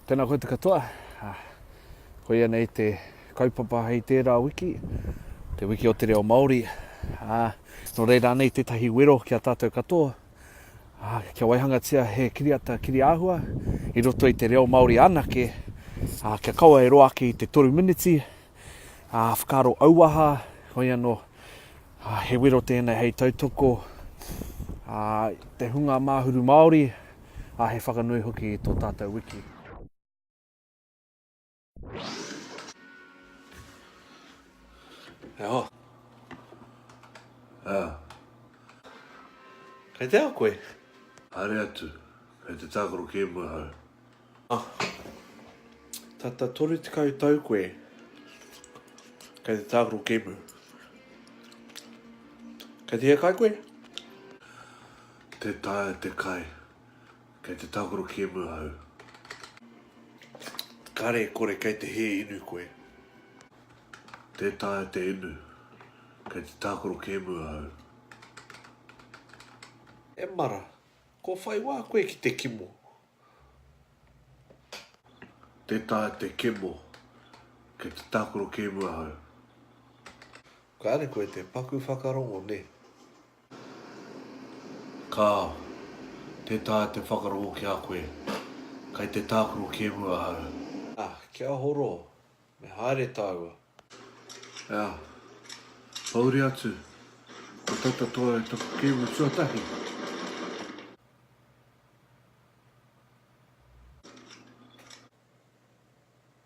Tēnā koe te katoa. Koia nei te kaupapa hei tērā wiki, te wiki o te reo Māori. Nō reira nei tētahi wero ki a tātou katoa, kia waihangatia he kiriata kiri āhua i roto i te reo Māori anake, kia kaua e roa ake i te toru miniti, whakaaro auaha, hoi anō, he wero tēnei hei tautoko, te hunga māhuru Māori, ā, he whakanui hoki i tō tātou wiki. He aha? Ā. Kei te aha koe? Haere atu, kei te tākaro kēmu ahau. Ā. Tata 30 tau koe, kei te tākaro kēmu. Kei te hiakai koe? Tē taea te kai. Kei te tākaro kēmu ahau. Kare kore kei te hē inu koe. Tē taea te inu. Kei te tākaro kēmu ahau. E mara, kua whai wā koe ki te kimo. Tē taea te kemo. Kei te tākaro kēmu ahau. Kare koe te paku whakarongo ne. Kāo, tē taea te whakarongo ki a koe. Kei te tākaro kēmu ahau. Ā, kia horo, me haere tāua. Ā, pouri atu, ko tata toa e taku kēmu tuatahi.